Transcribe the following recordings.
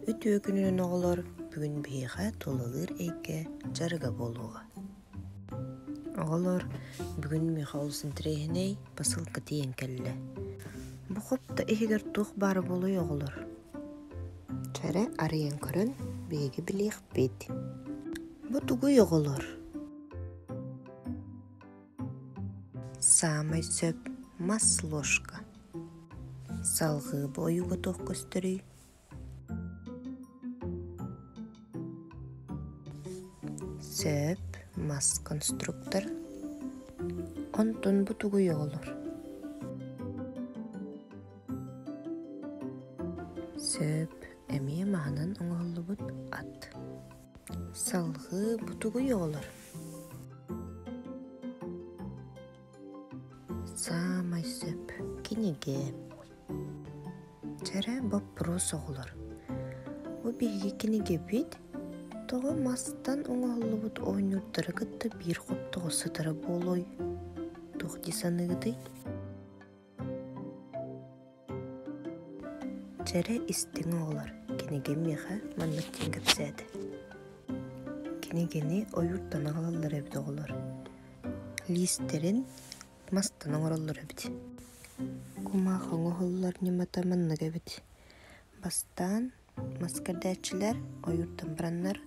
Үтүө күнүнэн оҕолор бүгүн биһиэхэ тулалыыр эйгэ дьарыга буолуоҕа. Оҕолор бүгүн миэхэ олус интэриэһинэй посылка тиийэн кэллэ. Бу хопто иһигэр туох баара буолуой оҕолор? Кэрэ арыйан көрөн биһиги билиэхпит. Бу тугуй оҕолор? Саамай сөп мас ложка. Салгыы бу ойууга туох көстөрүй? Сөп мас конструктор. Онтун бу тугуй оҕолор? Сөп эмиэ маһынан оҥоһуллубут ат. Салгыы бутугуй оҕолор Саамай сөп кинигэ Чэрэ боппуруос оҕолор Бу биһиги кинигэбит тоҕо мастан оҥоһуллубут оонньуурдары кытта биир хоптоҕо сытара буолуой? Туох дии саныыгытый? Чэрэ истиҥ оҕолор, кинигим миэхэ маннык диэн кэпсээтэ. Кинигэни ойууртан аҕалаллар эбит оҕолор. Лиистэрин мастан оҥороллор эбит. Кумаах оҥоһуллар ньымата маннык эбит. Бастаан Мас кэрдээччилэр ойуур тымбыраннар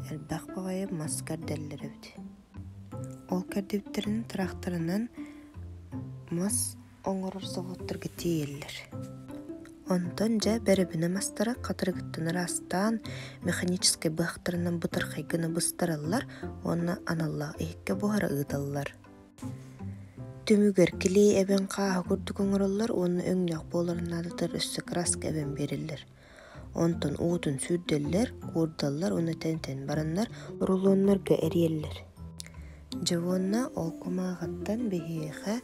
элбэх баҕайы мас кэрдэллэр эбит ол кэрдибиттэрин тырахтарынан мас оҥорор заводтарга тиэйэллэр онтон дьэ бэрэбинэ мастара хатырыгыттан ыраастаан механическай быһахтарынан бытархайгына быстараллар уонна аналлаах иһиккэ буһара ыыталлар Түмүгэр килиэй эбэн хааһы курдук оҥороллор уонна өҥнөөх буоларын наадатыгар өссө краска эбэн биэрэллэр. Онтон уутун сүүрдэллэр, куурдаллар уонна тэнитэн бараннар рулоннорго эрийэллэр. Дьоһуонна ол кумааҕыттан биһиэхэ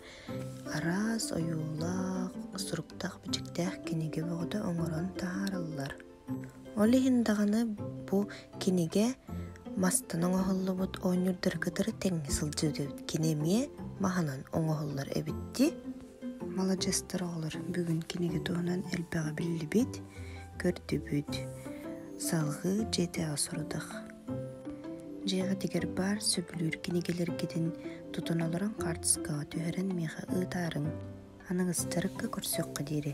араас ойуулаах, суруктаах-бичиктээх кинигэ бөҕөтө оҥорон таһаараллар. Ол иһин даҕаны бу кинигэ мастан оҥоһуллубут оонньуурдары кытары тэҥҥэ сылдьыбыт эбит. Кини эмиэ маһынан оҥоһуллар эбит дии. Маладьыстар оҕолор, бүгүн кинигэ туһунан элбэҕи биллибит, көрдүбүт. Салҕыы дьиэтэҕэ сорудах. Дьиэҕитигэр баар сөбүлүүр кинигэлэргитин тутан олорон хаартыскаҕа түһэрэн миэхэ ыытаарыҥ. Аныгыстарыкка көрсүөххэ диэри.